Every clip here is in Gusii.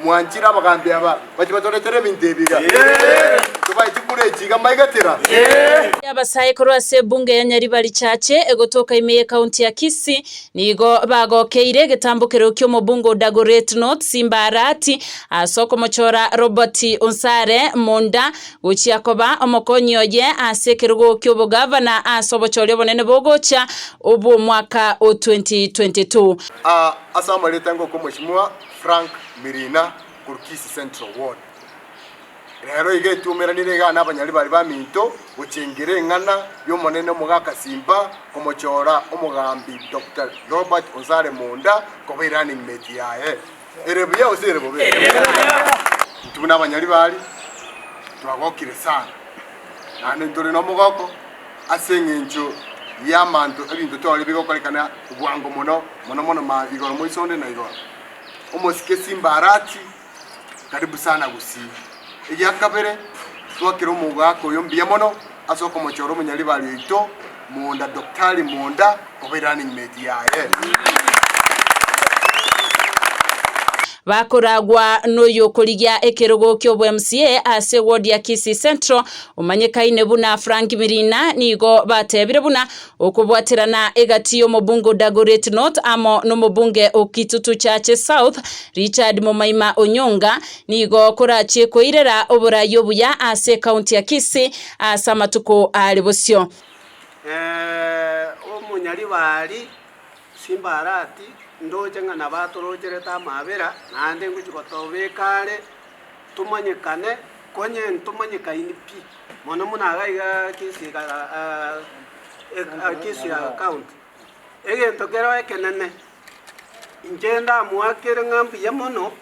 Mwanchire abagambi aba bache batoretere ebinto ebi iga. Tobae chikura echi iga mbaigetera. Y'abasae korwa ase ebunge ya Nyaribari Church egotoka ime ye county ya Kisii nigo bagokeire egetambo keroyio ki'omobunge o Dagoretti North Simba Arati ase okomochora Robert Onsare Munda gochia koba omokonyi oye ase ekerogo ki'obogavana ase obochori obonene bogocha obw'omwaka o 2022. Aa ase amareta ngoka omosimwa Frank Mirina korwa Kisii Central Ward. Rero iga etuomeranire egana abanyari baria baminto gochengera eng'ana y'Omonene omogaka Simba komochora omogambi Doctor Robert Onsare Monda koba erunning mate yaye. Ere buya gose ere bobe? Intwe buna abanyari baria twagokire sana. Naende ntore nomogoko ase engencho y'amanto ebinto tore bigokorekana obwango mono, mono mono ma igoro moiso onde na igoro. Omosike Simbarati karibu sana gusii. Egia kabere, twakera omogaaka oyo mbuya mono ase okomochora omonyaribaari oito Mwonda Daktari Mwonda, Bakoragwa noyokorigia ekerogo kiobwMCA ase ward ya Kisii Central omanyekaine buna Frank Mirina nigo batebire buna okobwaterana egati yomobunge o Dagoretti North amo nomobunge o Kitutu Chache South Richard Momaima Onyonga nigo korachie koirera oborai obuya ase county ya Kisii ase amatuko are bosio. Omonyaribari, Simbarati, ndoche ng'a nabatorochere-te amaabera, naende ngochia gotobeka are, tomanyekane, konye ntomanyekaini pi, mono mono iga iga gesiga gesiga account. Egento kero ekenene, inche ndamoakere ng'a mbuya mono,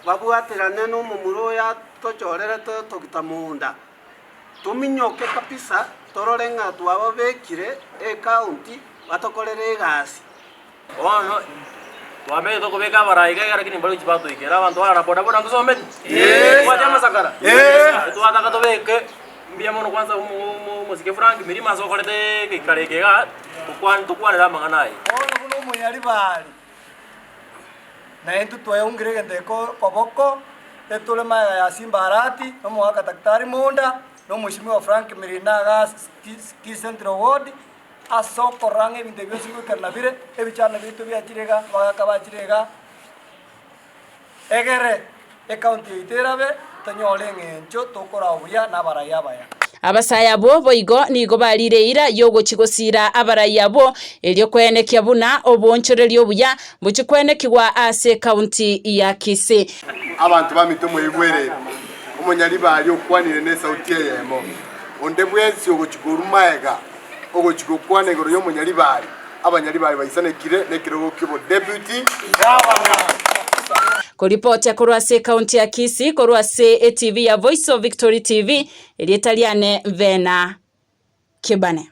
babwaterane nomomura oyo atochorerete otogita mounda. Tominyoke kabisa torore ng'a twababekire ecounti batokorere egasi. Bono twamenyete okobeka abarai iga iga lakini mbaruchi batoikera abanto barara boda boda ngosometi? Yes. Tobwati amasakara? Yes. Twataka tobeke mbuya mono kwanza omo- omosike Frank mirima ase okorete egeikaro eke igaa tokwa- tokwanere amang'ana aye. Bono buna omoyari baari. Na intwe twayeungire egento iko koboko etore magega ya Simba Arati, na omogaka Daktari Mounda, na omosibimi o Frank Mirina agha Kisii Central Ward, ase okorora ng'a ebinto ebi bionsi bigoikera nabire, ebichando biaito biachire iga, abagaka bachire iga, Egere ekaunti yaito erabe, tonyore eng'encho tokorao buya nabaraia abaya. Abasae abwo boigo nigo bariire eira y'ogochia gosiira abaraia abwo, erio kweenekia buna oboonchoreria obuya mbochie kweenekigwa ase ekaunti ya Kisii. Abanto bamito mwaigwerere, omonyaribaari okwanire nesauti eyemo, onde bwensi ogochia korwa maega. Ogochika okwana igoro y'omonyaribari, abanyaribari baisanekire nekerogo ki'obodeputy gavana. Koripotia korwa ase ekaunti ya Kisii korwa ase etibi ya Voice of Victory TV, erieta riane Bena Kibane.